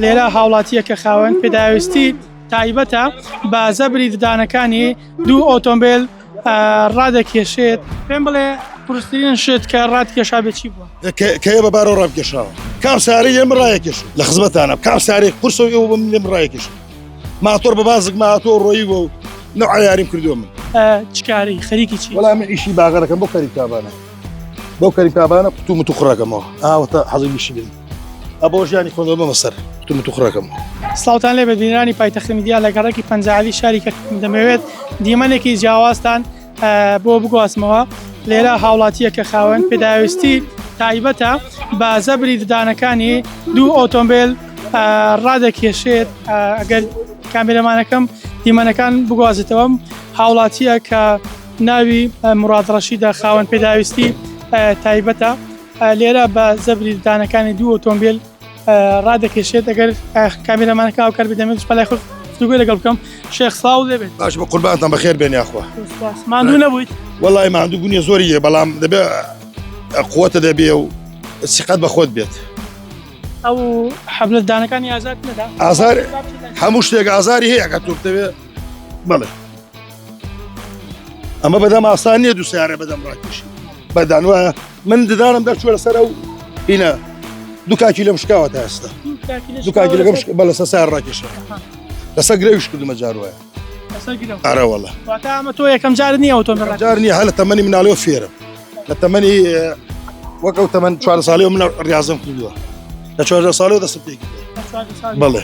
لێرە هاوڵاتییەکە خاوەن پێداویستی تایبەتە بە زەبری ددانەکانی دوو ئۆتۆمبیل ڕادەکێشێت پێم بڵێ قورسترین شت کە ڕاتکێشا بێ چی بووە کەێ بە بارەوە ڕابکێشاوە کام ساری لێم ڕایەکێش لە خزمەتانە کام سارێک قورسە و ئێوە بم لێم ڕایەکێش ماتۆر بە بازک ماتۆ ڕۆیی بۆ و نەعیاریم کردو من چکاری خەریکی چی وەڵام ئیشی باغەکەم بۆ خەریکتابانە بەو کەریکابانە قوتو متو خڕەکەمەوە ئاوەتە حەزی بیشی بن ئەبۆ ژیانی خۆندەوە بەمە سەر قوتو متو خڕەکەم ساوتان لێ بەدینرانی پایتەخت میدیا لە گەڕێکی پەنجالی شاری کەرکووک دەمەوێت دیمەنێکی جیاوازتان بۆ بگوازمەوە لێرە هاوڵاتیە کە خاوەن پێداویستی تایبەتە بە زەبری ددانەکانی دوو ئۆتۆمبیل ڕادەکێشێت ئەگەر کامێرەمانەکەم دیمەنەکان بگوازێتەوەم هاوڵاتیە کە ناوی، مراد رەشید، ە، خاوەن پێداویستی تایبەتە، لێرە بە زەبری ددانەکانی دوو ئۆتۆمبیل رادەکێشێت، ئەگەر کامێرامانەکە هاوکار بێت دەمەوێت بەلای خۆت گفتوگۆی لەگەڵ بکەم. شێخ سڵاو لێبێت. باش بوو قوربانتان بەخێر بێن یاخوا. سوپاس. ماندوو نەبوویت؟ وەڵای ماندوو بوونی زۆری هەیە بەڵام دەبێ قوەتە دەبێ و سیقەت بە خۆت بێت. ئەو حەبلە ددانەکانی ئازارت نەدا؟ ئازار هەموو شتێک ئازاری هەیە ئەگەر تۆ بتەوێ بەڵێ. ئەمە بەدەم ئاسان نیە دوو سیارە بەدەم ڕاکیش بەدان وایە من ددانم دەرچوە لەسەر ئەو هینە دوکاکی لەم شکاوە تا ئێستا دوکاکی لەگەم بە لەسە سار ڕاکیش لەسەر گرەویش کردمە جار وایە ئارەوەڵە ئەمە تۆ یەکەم جار نیە ئەوتۆ جار نیە هەلە تەمەنی مناڵەوە فێرم لە تەمەنی وەک ئەو تەمەەن چوار ساڵی و من ڕاستم کردووە لە چوار ساڵەوە دەست پێ بڵێ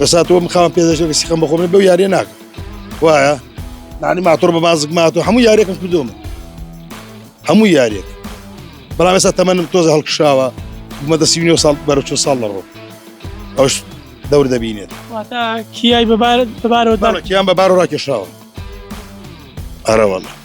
بەسا تۆم خاوەن پێدەشێک سیخەم بەخۆم بەو یاریە ناکە وایە نانی ماتۆر بە بازک ماتۆ هەموو یاریەکەم کردومە هەموو یاریەک بەڵام ئێستا تەمەنم تۆزە هەڵکشاوە مەدە سی ساڵ بەرە چ ساڵ لەڕۆ ئەوش دەور دەبینێت کیای بەبارەوە کیان بەبار ڕاکێشاوە ئەرەوەڵە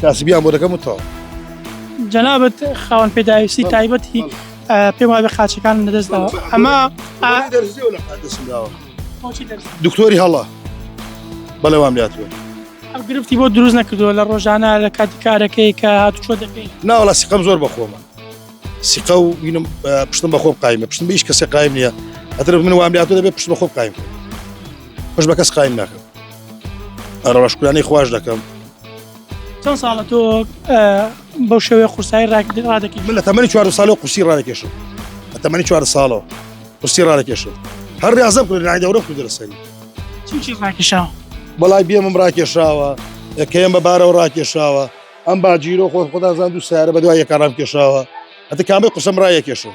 کاسبیان بۆ دەکەم و تەواو. جەنابت خاوەن پێداویستی تایبەتی پێم وابێ قاچەکان لەدەست داوە ئەمە ئا- دەرزیەوە لە دەستم داوە بۆچی دەرس؟ دکتۆری هەڵە بەڵێوام لاتوە ئەو گرفتی بۆ دروست نەکردووە لە ڕۆژانە لە کاتی کارەکەی کە هاتوچۆ دەکەی ناوەڵا سیقەم زۆر بەخۆمە سیقە و وینم اه، پشتم بە خۆم قایمە پشتم بە هیچ کەسێ قایم نییە ئەتر من وام لاتوە دەبێت پشت بە خۆم قایم کەم. پشت بە کەس قایم ناکەم ڕەشکرانی خوش دەکەم چەند ساڵە تۆ بەو شێوێ قورسایی ڕاکردن ڕادەکەی من لە تەمەنی چوار ساڵە قوسی ڕادەکێشم لە تەمەنی چوار ساڵەوە قوسی ڕادەکێشم هەر ڕازم کرد لای دەورە خود لەسەری چی ڕاکیشاوە بەڵای بێمم ڕاکێشاوە کەم بە بارەوە ڕاکێشاوە ئەم باجیرۆ خۆ خۆدازان دوو سارە بە دوای یەکارام کێشاوە ئەتە کامی قسم ڕایەکێشم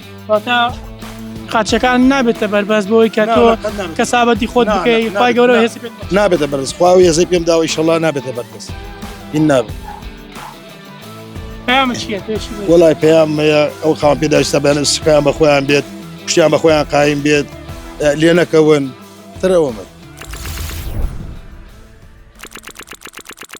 واتە قاچەکان نابێتە بەربەست بۆی کە تۆ کەسابەتی خۆت بکەی خی گەورە هێز نابێتە بەرز خوا و هێزەی پێم داوای شەڵا نابێتە بەربەست این نابێت وڵای پێیان ئەو خاوان پێداشتە بەێنە سکیان بە خۆیان بێت شتیان بە خۆیان قایم بێت لێ نەکەون ترەوە من